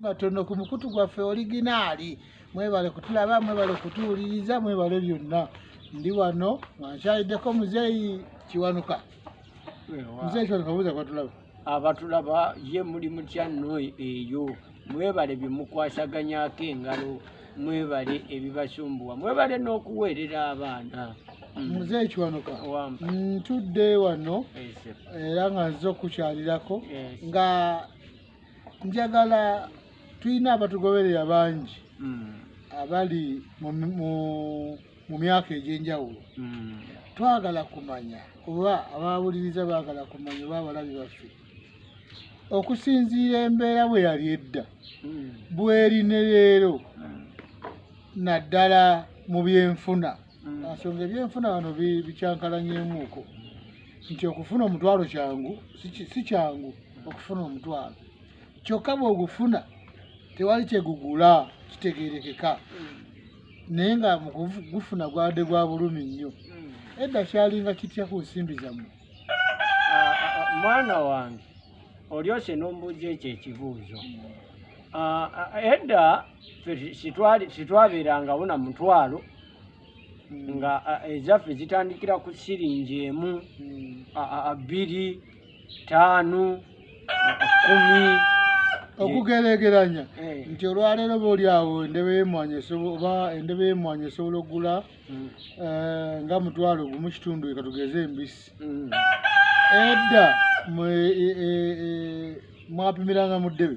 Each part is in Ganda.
matono ku mukutu gwaffe oliginaali mwebale kutulaba mwebale kutuwuliriza mwebale byonna ndi wano nga nkyaliddeko muzeeyi kiwanuka muzeeyi kiwanuka buuza kwatulaba abatulaba ye muli mutya nno eyo mwebale bye mukwasaganyako engalo mwebale ebibasumbuwa mwebale n'okuweerera abaana mm. muze ekiwanuka ntudde wano era nga nze okukyalirako nga njagala tulina abatugoberera bangi mm. abali mu myaka egy'enjawulo mm. twagala kumanya oba abawuliriza baagala kumanya oba abalabi baffe okusinziira embeera bwe yali edda mm. bweri ne leero naddala mu byenfuna mm. asonga ah, ebyenfuna wano bikyankalanyemuuko nti okufuna omutwalo kyangu si kyangu okufuna omutwalo kyokka bwogufuna tewali kyegugula kitegerekeka naye nga mugufuna gwade gwa bulumi nnyo mm. edda kyalinga kitya ku nsimbi zammwe ah, ah, mwana wange olyose nombuuza ekyo ekibuuzo edda sitwabeerangawo na mutwalo mm. nga ezaffe zitandikira ku siringi emu mm. bbiri taanu kumi okugerageranya eh. nti olwaleero booli awo endebe yemwanyi oba endebe yemwanyi esobola okugula mm. eh, nga mutwalo gumu kitundu ekatugeze embisi edda e, e, e, mwapimiranga mu ddebe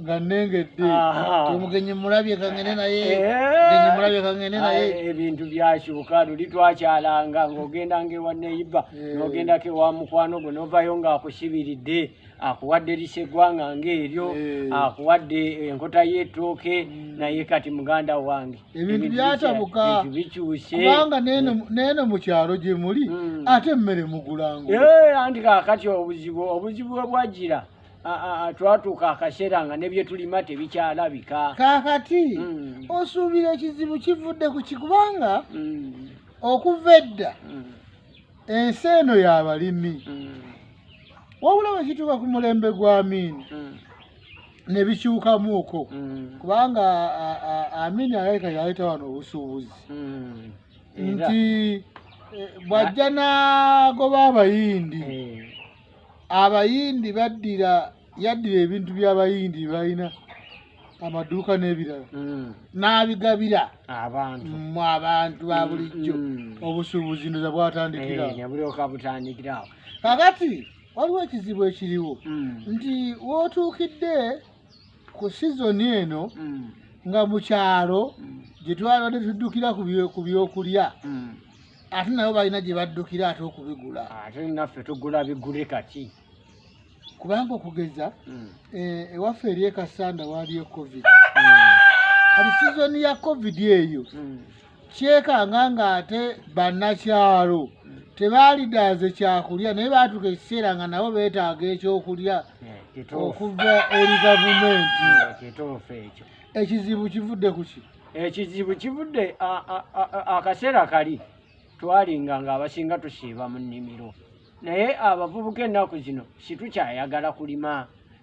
nga nengedde omugenyi mulabye kangene naye eh. mulabye kangene naye ebintu byakyuka luli twakyalanga ng'ogenda ngaewa neyiba eh. n'ogendako ewa mukwano gwo novayo ng'akusibiridde akuwadde liseggwanga ng'eryo eh. akuwadde enkota y'ettooke hmm. naye kati muganda wange ebintu byatabuka bikyuse kubanga neeno mu kyalo gye muli hmm. ate emmere mugulango anti kakati obuzibu obuzibu bwe bwajira mm. twatuuka akaseera nga nebyetulima tebikyalabika kakati mm. osuubira ekizibu kivudde ku kikubanga mm. okuva edda mm. ensi eno yabalimi wabula wekituuka ku mulembe gwa miini nebikyukamuuko kubanga amiini alabika yaleeta wano obusuubuzi nti eh, bwajja nagoba abayindi eh. abayindi baddira yaddira ebintu by'abayindi balina amaduuka n'ebirala mm. n'abigabira abantu mu abantu ba bulijjo mm, mm. obusuubuzi ndoza bwatandikiraobutandikirawo eh, kakati waliwo ekizibu ekiriwo nti wootuukidde ku sizoni eno nga mu kyalo gye twabadde tuddukira ku byokulya ate nabo balina gye baddukira ate okubigula ate naffe tugula bigule kati kubanga okugeza hmm. eh, ewaffe eri ekasanda waaliyo covid hmm. kati sizoni ya covid eyo hmm. kyekanga ng'ate bannakyalo tebaalidaaze kyakulya naye baatuka ekiseera nga nabo beetaaga ekyokulya eh, okuva eri gavumenti eh, ekizibu kivudde ku ki ekizibu kivudde akaseera kali twalinga nga abasinga tusiiba mu nnimiro naye abavubuka ennaku zino situkyayagala kulima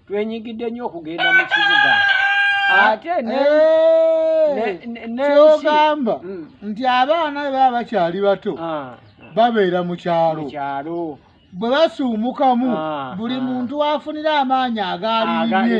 twenyigidde nnyo okugenda mu kibuga ate kyogamba eh, mm. nti abaana bebaba bakyali bato ah, ah. babeera mu kyalo bwe basuumukamu ah, buli muntu afunira amaanyi agaalinye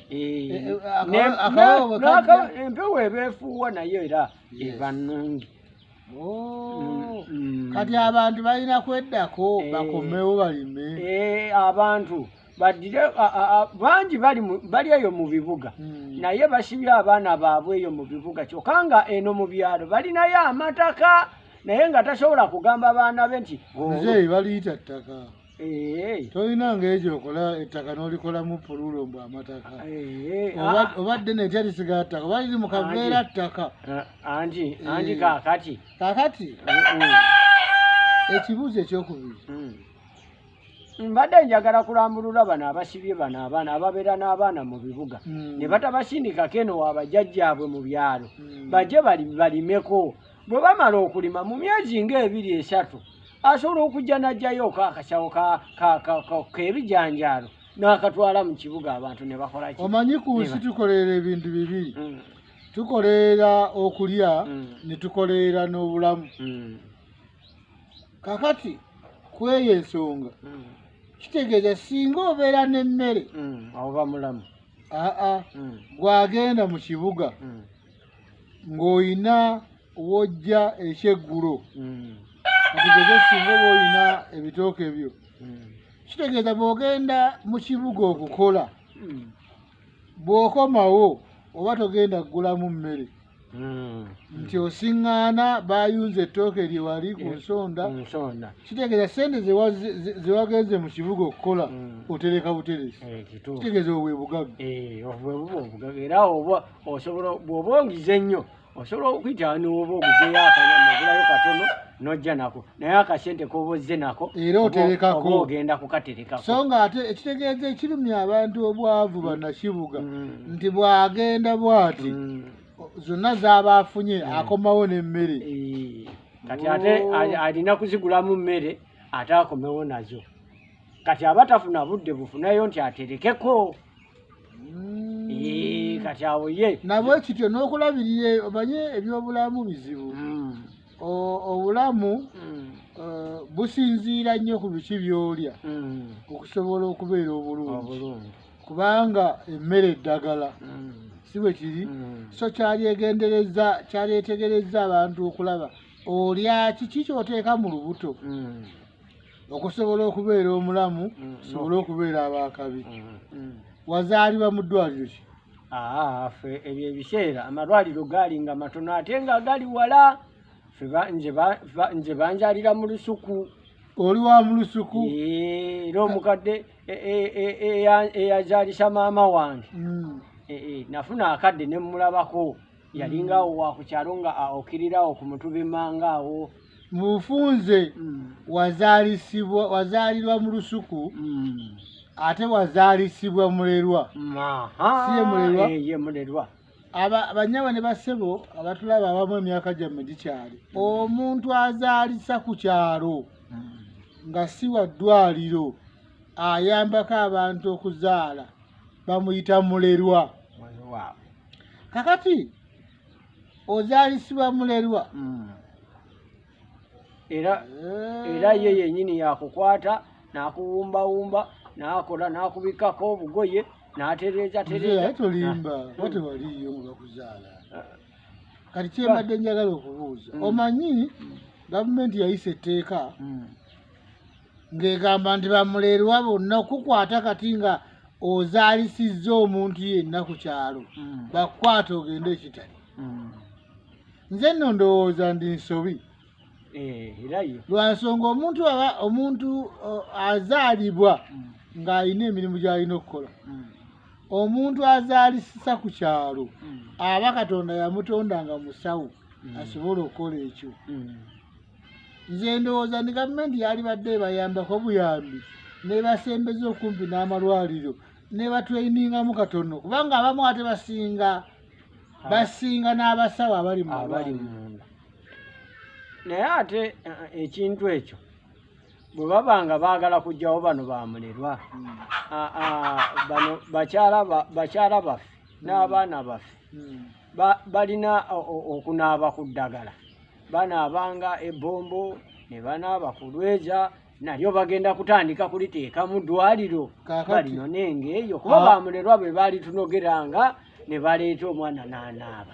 empewo ebefuuwa naye era eba nungi oh. mm. kati abantu balina kweddako eh. bakomewo balime eh, abantu badire bangi bali eyo mu bibuga hmm. naye basibye abaana baabwe eyo mu bibuga kyokka nga eno mu byalo balinayo amataka naye nga tasobola kugamba baana be nti muzeeyi baliyita ttaka tolina ngaekyo okola ettaka nolikolamu pululo mbu amataka obadde ah. netya lisigaa ttaka oba liri mukaveera ttaka anti anti kakati kakati ekibuuzo ekyokubiri hmm. mbadde njagala kulambulula bano abasibye bano abaana ababeera n'abaana mu bibuga hmm. ne batabasindikako eno wabajjajjaabwe mu byalo hmm. bajje balimeko bwe bamala okulima mu myezi ngaebiri esatu asobola okujja n'ajjayoko akasawo k'ebijanjaalo n'akatwala mu kibuga abantu ne bakolaki omanyi ku nsi tukoleera ebintu bibiri mm. tukoleera okulya mm. ne tukoleera n'obulamu mm. kakati ku eyo ensonga kitegeeza singa obeera n'emmere oba mulamu aa gwagenda mu kibuga ng'olina wojja ekyeggulo mm. atugeze singa oba olina ebitooke byo mm. kitegeeza bw'ogenda mu kibuga okukola mm. bw'okomawo oba togenda kugulamu mmere nti osiŋŋaana bayunza ettooke lye wali ku eh, nsonda kitegeeza sente zewagenze mu kibuga okukola otereka buteresi eh, kitegeeza obwe bugagga eh, era osobola bwoba ongize nnyo osobola okuyita nioba oguzeyo akanyama ogulayo katono nojja nako naye akasente koba ozze nako era oterekako ogenda kukaterekako so nga ate ekitegeeza ekirumya abantu obwavu banakibuga mm. nti bwagenda bwati mm. zonna zaba afunye mm. akomawo nemmere eh. kati ate oh. alina kuzigulamu mmere ate akomewo nazo kati abatafuna budde bufunayo nti aterekeko mm. kati awo ye nabwe kityo n'okulabirira omanye ebyobulamu bizibu mm. obulamu mm. eh, businziira nnyo ku biki byolya okusobola okubeera obulungi kubanga emmere eddagala si bwe kiri so kyalyegendereza kyalyetegereza abantu okulaba olya kiki kyoteeka mu lubuto okusobola okubeera omulamu mm, sobole okubeera abakabi mm. mm. wazaalibwa mu ddwaliro ki ah, fe ebyo ebiseera amalwaliro gaali nga matono ate nga gali wala nze banjalira mu lusuku oli wa mu lusuku eh, era omukadde e, e, e, eyazalisa maama wange eh, eh, nafuna akadde nemulabako yalinga awo wakukyalo nga okirirawo ku mutubimanga awo mufunze mm. wazalisibwa wazalirwa mu lusuku mm. ate wazalisibwa mulerwa siye mulerwa eh, ye mulerwa aba banyaba ne basebo abatulaba abamu emyaka gyamme gikyali mm. omuntu azalisa ku kyalo nga si wa ddwaliro ayambako abantu okuzaala bamuyita mulerwa kakati ozalisibwa mulerwa mm. era eh. era ye yenyini yakukwata nakuwumbawumba nakola nakubikako obugoye natereeza tereezatolimba eh, wate mm. waliyo nga bakuzaala eh. kati kyembadde njagala okubuuza mm. omanyi gavumenti yayisa etteeka ng'egamba nti bamuleerwa bonna okukukwata kati nga ozaalisizza omuntu yenna ku kyalo mm. bakukwata ogende ekitali mm. nze nno ndowooza ndi nsobi eh, lwa nsonga omuntu aba omuntu azaalibwa mm. ng'alina emirimu gy'alina okukola omuntu azaalisisa ku kyalo aba katonda yamutonda nga musawo asobola okukola ekyo nze ndowooza ni gavumenti yalibadde ebayambako buyambi nebasembeza okumpi n'amalwaliro nebatweiningamu katono kubanga abamu ate basinga basinga n'abasawo abali muabali munda naye ate eh, eh, ekintu ekyo bwe baba nga baagala kugyawo bano bamulerwa hmm. ah, ah, bano bakyala baffe n'abaana baffe hmm. balina okunaaba ku ddagala banaabanga ebbombo ne banaaba ku lweza nalyo bagenda kutandika kuliteeka mu ddwaliro balinone ng'eyo kuba ah. bamulerwa bwe baalitunogeranga ne baleeta omwana n'anaaba